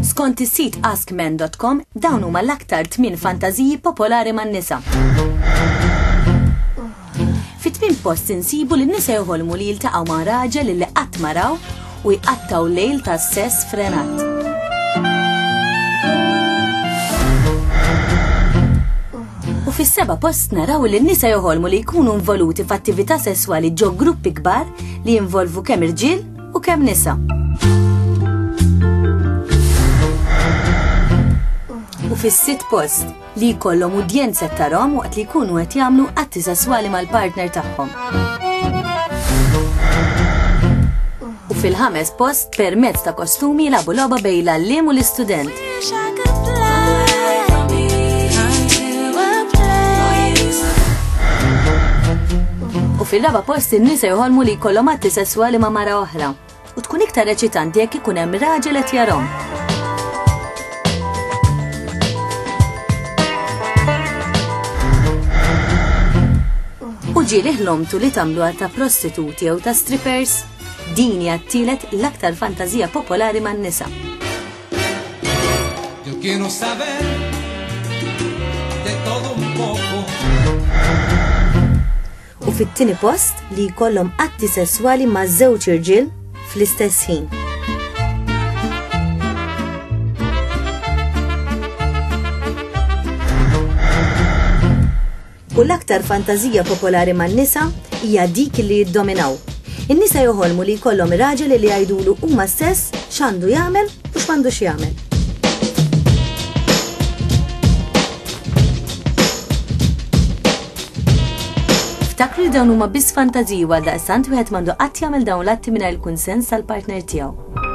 Skont is-sit askmen.com dawn huma l-aktar tmien fantażiji popolari man-nisa. Fit-tmien post insibu li n-nisa joħolmu li jiltaqgħu ma' raġel li qatt maraw u jqattgħu lejl ta' sess frenat. u fis-seba post naraw li n-nisa joħolmu li jkunu involuti f'attività sesswali ġo gruppi kbar li jinvolvu kemm irġiel u kemm nisa. U fis-sitt post li jkollhom udjenza ta' rom waqt li jkunu qed jagħmlu atti sesswali mal-partner tagħhom. U fil-ħames post permezz ta' kostumi labu logħba bejn l-għalliem u l-istudent. U fil-raba post in-nisa jħolmu li jkollhom atti sesswali ma' mara oħra. u tkun iktar eċitanti jekk ikun hemm raġel qed jarhom. U ġieli ħlomtu li tagħmlu għal ta' prostituti jew ta' strippers, din hija t-tielet l-aktar fantażija popolari man-nisa. Yo quiero saber de todo un poco. u fit-tieni post li jkollhom atti sesswali ma' żewġ irġiel fl-istess ħin. U l-aktar fantażija popolari man-nisa hija dik li jiddominaw. In-nisa joħolmu li jkollhom raġel li jgħidulu huma stess x'għandu jagħmel u x'm'għandux jagħmel. Ftakru li dawn huma biss fantażiji għal daqstant wieħed m'għandu qatt jagħmel dawn l-atti mingħajr il-kunsens tal-partner tiegħu.